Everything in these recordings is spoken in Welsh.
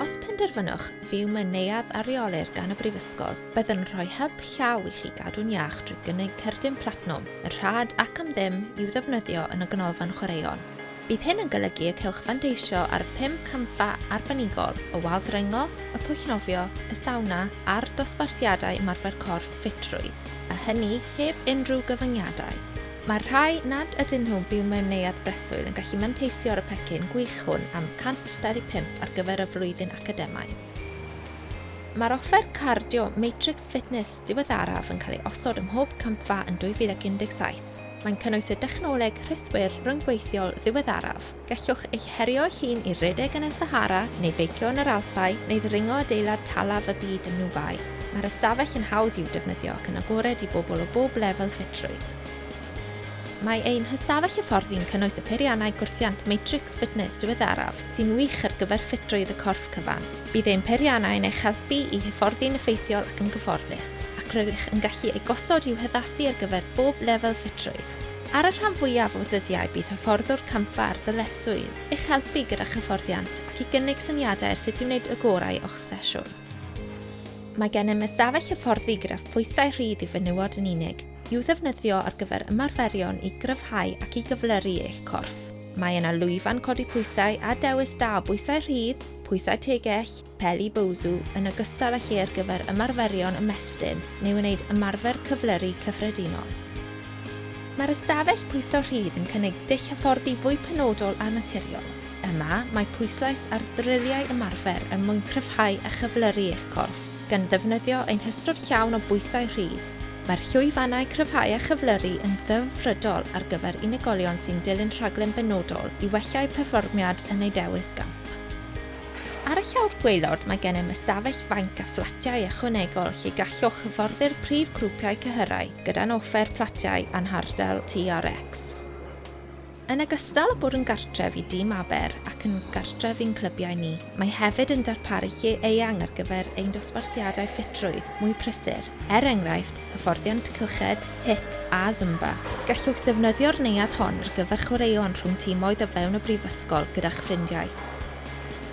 Os penderfynwch fyw mewn neuadd a reolir gan y Brifysgol, byddwn yn rhoi help llaw i chi gadw'n iach drwy gynnig cerdyn platinwm, yn rhad ac am ddim, i'w ddefnyddio yn y Ganolfan Chwaraeon. Bydd hyn yn golygu y cewch fanteisio ar y pum campfa arbenigol, y wal ddringo, y pwll nofio, y sawna a'r dosbarthiadau ymarfer corff ffitrwydd, a hynny heb unrhyw gyfyngiadau. Mae'r rhai nad ydyn nhw'n byw mewn neuadd breswyl yn gallu manteisio ar y pecyn gwych hwn am 125 ar gyfer y flwyddyn academaidd. Mae'r offer cardio Matrix Fitness diweddaraf yn cael ei osod ym mhob campfa yn 2017. Mae'n cynnwys y dechnoleg rhithwir rhyngweithiol ddiweddaraf, Gallwch eich herio eich hun i redeg yn y Sahara neu feicio yn yr Alpau neu ddringo adeilad talaf y byd yn Nŵbai, mae'r ystafell yn hawdd i'w defnyddio ac yn agored i bobl o bob lefel ffitrwydd. Mae ein hystafell hyfforddi'n cynnwys y peiriannau gwrthiant Matrix Fitness diweddaraf sy'n wych ar gyfer ffitrwydd y corff cyfan. Bydd ein peiriannau yn eich helpu i hyfforddi'n effeithiol ac yn gyfforddus, ac rydych yn gallu eu gosod i'w haddasu ar gyfer bob lefel ffitrwydd. Ar y rhan fwyaf o ddyddiau bydd hyfforddwr campfa ar ddyletswydd i'ch helpu gyda'ch hyfforddiant ac i gynnig syniadau ar sut i wneud y gorau o'ch sesiwn. Mae gennym ystafell hyfforddi gyda phwysau rhydd i fenywod yn unig, i'w ddefnyddio ar gyfer ymarferion i gryfhau ac i gyflyru eich corff. Mae yna lwyfan codi pwysau a dewis da o bwysau rhydd, pwysau tegell, Peli Boozhoo yn ogystal â lle ar gyfer ymarferion ymestyn neu wneud ymarfer cyflyru cyffredinol. Mae'r ystafell pwyso rhydd yn cynnig dull hyfforddi fwy penodol a naturiol. Yma, mae pwyslais ar ddryliau ymarfer er mwyn cryfhau a chyflyru eich corff, gan ddefnyddio ein hystod llawn o bwysau rhydd. Mae'r llwyfannau cryfhau a chyflyru yn ddelfrydol ar gyfer unigolion sy'n dilyn rhaglen benodol i wella'u perfformiad yn eu dewis gamp. Ar y llawr gwaelod mae gennym ystafell fainc a fflatiau ychwanegol lle gallwch hyfforddi'r prif grwpiau cyhyrau gyda'n offer platiau a'n hardal TRX. Yn ogystal â bod yn gartref i Dîm Aber ac yn gartref i'n clybiau ni, mae hefyd yn darparu lle eang ar gyfer ein dosbarthiadau ffitrwydd mwy prysur, er enghraifft, hyfforddiant cylched, hit a Zumba. Gallwch ddefnyddio'r neuadd hon ar gyfer chwaraeon rhwng timoedd o fewn y brifysgol gyda'ch ffrindiau.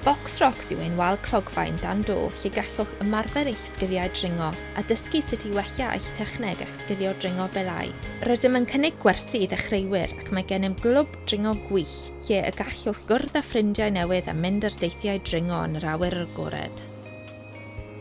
Box Rocks yw ein wal clogfaen dan do lle gallwch ymarfer eich sgiliau dringo a dysgu sut i wella eich techneg a'ch sgilio dringo belâu. Rydym yn cynnig gwersi i ddechreuwyr ac mae gennym glwb dringo gwych lle y gallwch gwrdd â ffrindiau newydd a mynd ar deithiau dringo yn yr awyr agored.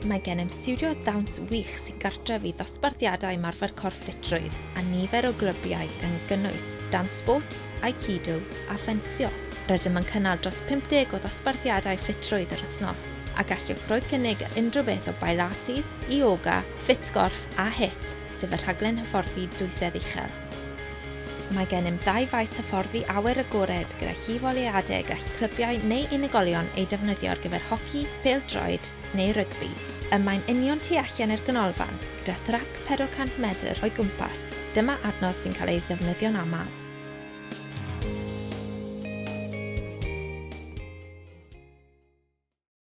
Mae gennym stiwdio dawns wych sy'n gartref i ddosbarthiadau ymarfer corff ffitrwydd a nifer o glybiau gan gynnwys dance sport, aikido a ffensio. Rydym yn cynnal dros 50 o ddosbarthiadau ffitrwydd yr wythnos a gallwch roi cynnig ar unrhyw beth o Bilates, Ioga, Ffit Gorff a HIIT, sef y rhaglen hyfforddi dwysedd uchel. Mae gennym ddau faes hyfforddi awyr agored gyda llif o le adeg gall clybiau neu unigolion ei defnyddio ar gyfer hoci, pêl-droed neu rygbi. Y mae'n union tu allan i'r ganolfan, gyda thrac 400 medr o'i gwmpas, dyma adnodd sy'n cael ei ddefnyddio'n aml.